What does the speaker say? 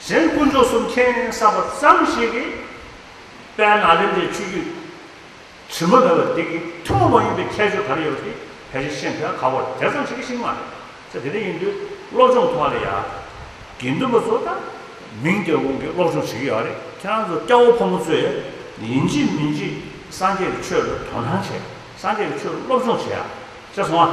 གཞན་དཀོན་མཆོག་གསུམ་མཁྱེན་གསར་པ་ཙམ་ཞིག་གིས་དཔལ་ནཱ་ལེནྡྲའི་ཆོས་བརྒྱུད་དྲི་མ་མེད་པ་འདི་གི་ཐུན་མོང་མ་ཡིན་པའི་ཁྱད་ཆོས་ག་རེ་ཡོད་པ་དེ་ཕལ་ཆེར་ཤེས་མཁན་ག་བར་དེ་ཙམ་ཞིག་གིས་ཤེས་ཀྱི་མ་རེད། ཚེ་དེ་འདྲ་ཡིན་དུས་སློབ་སྦྱོང་ཐོག་ལ་ཡ། དགེ་འདུན་པ་ཚོ་ད་མིང་རྒྱལ་དབང་གིས་སློབ་སྦྱོང་བྱེད་ཀྱི་ཡོད་རེད་ཁྱེད་རང་ཚོ་སྐྱ་བོ་ཕོ་མོ་ཚོས་ཡིན་གཅིག་མིན་གཅིག་སངས་རྒྱས་ཀྱི་ཆོས་ལ་དོ་སྣང་བྱེད་སངས་རྒྱས་ཀྱི་ཆོས་སློབ་སྦྱོང་བྱེད་ཡ། ཅེས་གསུང་བ།